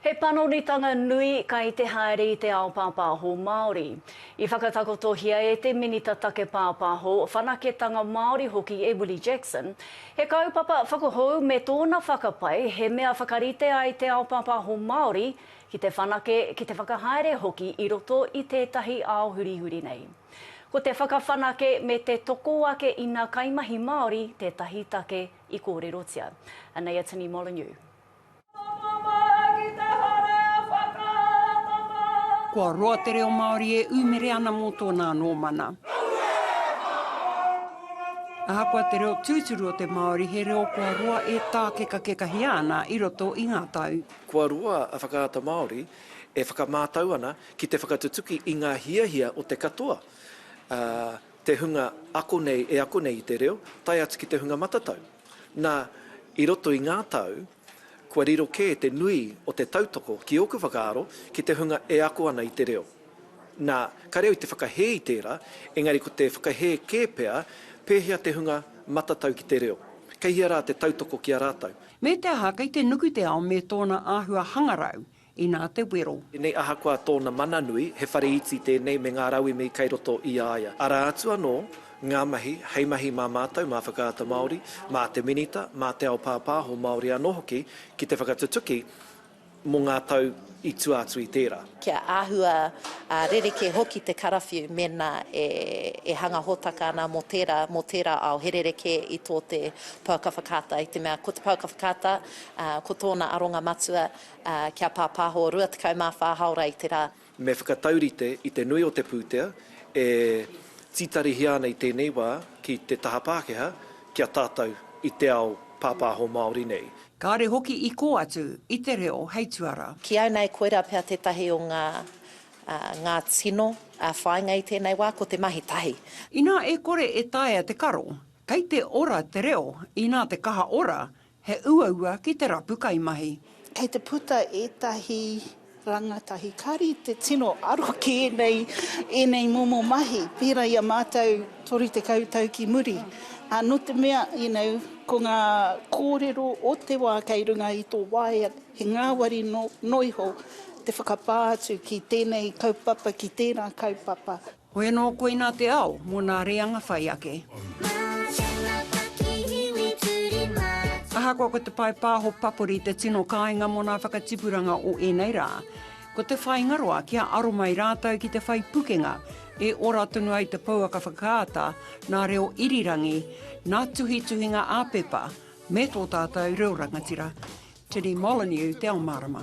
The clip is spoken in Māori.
He panonitanga nui kai te haere i te ao pāpāho Māori. I whakatakotohia e te Minita Take Pāpāho, Whanaketanga Māori hoki e Willie Jackson, he kaupapa whakahou me tōna whakapae he mea whakarite ai te ao pāpāho Māori ki te whanake, ki te whakahaere hoki i roto i tētahi ao hurihuri nei. Ko te whakawhanake me te toko ake i nā kaimahi Māori tētahi take i kōrerotia. Anei a Tini Molyneux. Kua roa te reo Māori e ūmere ana mō tōna anō mana. Ahakoa te reo tūturu o te Māori, he reo kua roa e tākekakekahia ana i roto i ngā tau. Kua roa a Whakaata Māori e whakamātau ana ki te whakatutuki i ngā hiahia o te katoa, te hunga ako nei e ako nei i te reo, tae atu ki te hunga matatau. Nā, i roto i ngā tau, kua riro kē te nui o te tautoko, ki ōku whakaaro, ki te hunga e ako ana i te reo. Nā, kāre au i te whakahē i tērā, engari ko te whakahē kē pea pēhea te hunga matatau ki te reo, kei hea rā te tautoko ki a rātou. Me te aha, kei te nuku te ao me tōna āhua hangarau, Inā te wero. Tēnei ahakoa tōna mana nui, he whare iti tēnei me ngā rauemi kei roto i a ia. Arā atu anō ngā mahi, hei mahi mā mātou, mā Whakaata Māori, mā te Minita, mā te ao pāpāho Māori anō hoki ki te whakatutuki mō ngā tau i tua atu i tērā. Kia āhua rerekē hoki te karawhiu mēnā e hanga hōtaka ana mō tērā, mō tērā ao, he rerekē i tō te pouaka whakaata. I te mea ko te pouaka whakaata, ko tōna aronga matua, Ā, kia pāpāho 24 hāora i te rā. Me whakataurite i te nui o te pūtea e tītarihia ana i tēnei wā ki te taha Pākehā ki a tātou i te ao pāpāho Māori nei. Kāre hoki i kō atu i te reo hei tuara. Ki au nei koirā pea tētahi o ngā, ā, ngā tino, ā, whāinga i tēnei wā, ko te mahi tahi. Inā e kore e taea te karo, kei te ora te reo, inā te kaha ora, He uaua ki te rapu kaimahi. Kei te puta ētahi rangatahi kari te tino aro ki ēnei, ēnei momo mahi, pērā i a mātou 30 tau ki muri. Ā, nō te mea, you know, ko ngā kōrero o te wā kei runga i tō waea, he ngāwari noa iho te whakapā atu ki tēnei kaupapa, ki tērā kaupapa. Hoi anō koinā te ao mō nā reanga whai ake. Ahakoa ko te pae pāho papori te tino kāinga mō nā whakatipuranga o ēnei rā, ko te whāingaroa kia aro mai rātou ki te whai pukenga e ora tonu ai te pouaka whakaata nā reo irirangi, nā tuhituhinga ā-pepa, me tō tātou reo rangatira. Tini Molyneux te ao mārama.